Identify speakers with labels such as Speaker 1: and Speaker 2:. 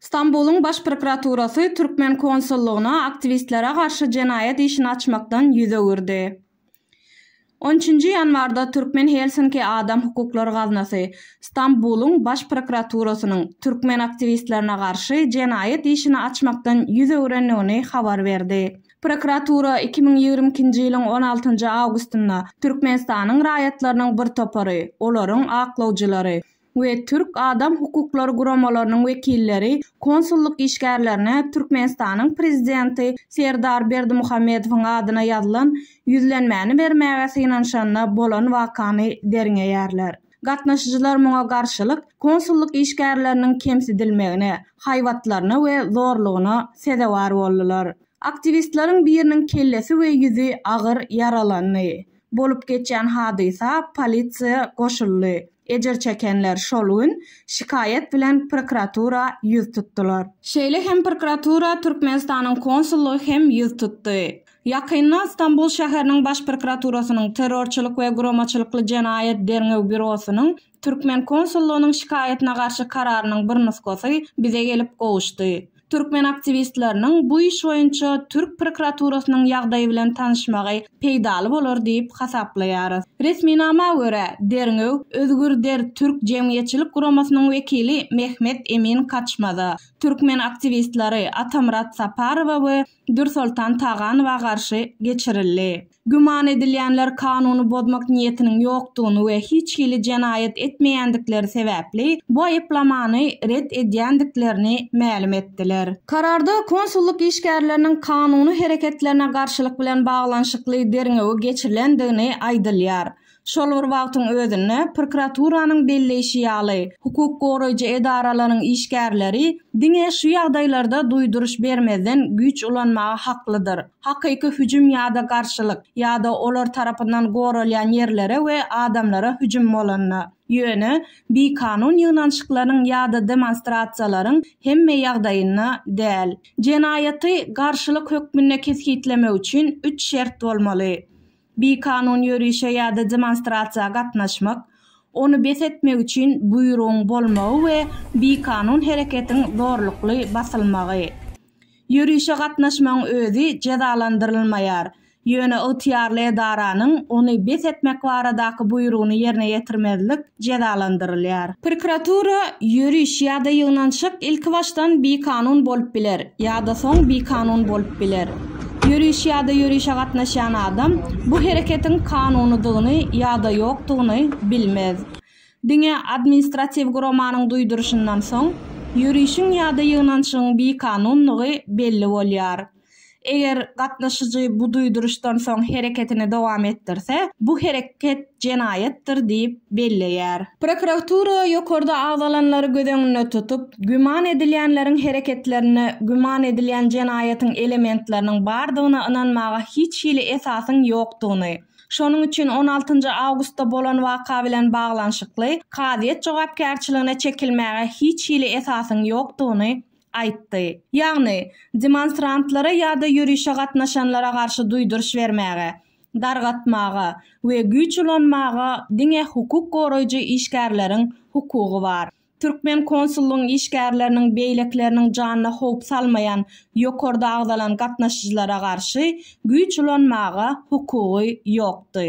Speaker 1: Stambulyň Baş prokuraturasy türkmen konsullygyna aktiwistlere garşy jenaýat işini açmakdan ýüz öwürdi. On üçünji ýanwarda Türkmen Helsinki Adam hukuklary gaznasy Stambulyň Baş prokuraturasynyň türkmen aktiwistlerine garşy jenaýat işini açmakdan ýüz öwrendigini habar berdi. Prokuratura iki müň ýigrimi ikinji ýylyň on altynjy awgustynda Türkmenistanyň raýatlarynyň bir topary, olaryň aklawjylary we türk adam hukuklary guramalarynyň wekilleri konsullyk işgärlerine Türkmenistanyň Prezidenti Serdar Berdimuhamedowyň adyna ýazylan ýüzlenmäni bermäge synanyşanda bolan wakany derňeýärler. Gatnaşyjylar muňa garşylyk konsullyk işgärleriniň kemsidilmegine, haýbatlaryna we zorlugyna sezewar boldular. Aktiwistleriň biriniň kellesi we ýüzi agyr ýaralandy. Bolup geçýän hadysa polisiýa goşuldy. Ejir çekenler şol gün şikaýat bilen prokuratura ýüz tutdular. Şeýle hem prokuratura Türkmenistanyň konsullygy hem ýüz tutdy. Ýakynda Stambul şäheriniň Baş prokuraturasynyň Terrorçylyk we guramaçylykly jenaýat derňew býurosynyň türkmen konsullygynyň şikaýatyna garşy kararynyň bir nusgasy bize gelip gowuşdy. Türkmen aktiwistleriniň bu iş boýunça türk prokuraturasynyň ýagdaýy bilen tanyşmagy peýdaly bolar diýip hasaplaýarys. Resminama görä, derňew Özgürder türk jemgyýetçilik guramasynyň wekili Mehmet Emin Kaçmaza, türkmen aktiwistleri Atamyrat Saparowa we Dürsoltan Taganowa garşy geçirildi. Güman edilýänler kanuny bozmak niýetiniň ýokdugyny we hiç hili jenaýat etmeýändikleri sebäpli bu aýyplamany ret edýändiklerini mälim etdiler. Kararda konsullyk işgärleriniň kanuny hereketlerine garşylyk bilen baglanyşykly derňewi geçirilendigini aýdylýar. Şol bir wagtyň özünde, prokuraturanyň belleýşi ýaly, hukuk goraýjy edaralaryň işgärleri diňe şu ýagdaýlarda duýduryş bermezden güýç ulanmaga haklydyr, hakyky hüjüm ýa-da garşylyk, ýa-da olar tarapyndan goralýan ýerlere we adamlara hüjüm bolanda. Ýöne, bikanun ýygnanyşyklaryň ýa-da demonstrasiýalaryň hemme ýagdaýynda däl. Jenaýaty garşylyk hökmünde kesgitlemek üçin üç şert bolmaly. Bikanun ýörişe ýa-da demonstrasiýa gatnaşmak, ony bes etmek üçin buýrugyň bolmagy we bikanun hereketiň zorlukly basylmagy. Ýörişe gatnaşmagyň özi jezalandyrylmaýar, ýöne ygtyýarly edaranyň ony bes etmek baradaky buýrugyny ýerine ýetirmezlik jezalandyrylýar. Prokuratura, ýöriş ýa-da ýygnanşyk ilkibaşdan bikanun bolup biler ýa-da soň bikanun bolup biler. Ýöriş ýa-da ýörişe gatnaşýan adam bu hereketiň kanunydygyny ýa-da ýokdugyny bilmez. Diňe administratiw guramanyň duýduryşyndan soň, ýörişiň ýa-da ýygnanşygyň bikanundygy belli bolýar. Eger gatnaşyjy bu duýduryşdan soň hereketini dowam etdirse, bu hereket jenaýatdyr diýip belleýär. Prokuratura ýokarda agzalanlary göz öňünde tutup, güman edilýänleriň hereketlerinde güman edilýän jenaýatyň elementleriniň bardygyna ynanmaga hiç hili esasyň ýokdugyny, şonuň üçin on altynjy awgustda bolan waka bilen baglanyşykly kazyýet jogapkärçiligine çekilmäge hiç hili esasyň ýokdugyny aýtdy. Ýagny, demonstrantlara ýa-da ýörişe gatnaşanlara garşy duýduryş bermäge, dargatmaga we güýç ulanmaga diňe hukuk goraýjy işgärleriň hukugy bar. Türkmen konsullygyň işgärleriniň beýlekileriniň janyna howp salmaýan ýokarda agzalan gatnaşyjylara garşy güýç ulanmaga hukugy ýokdy.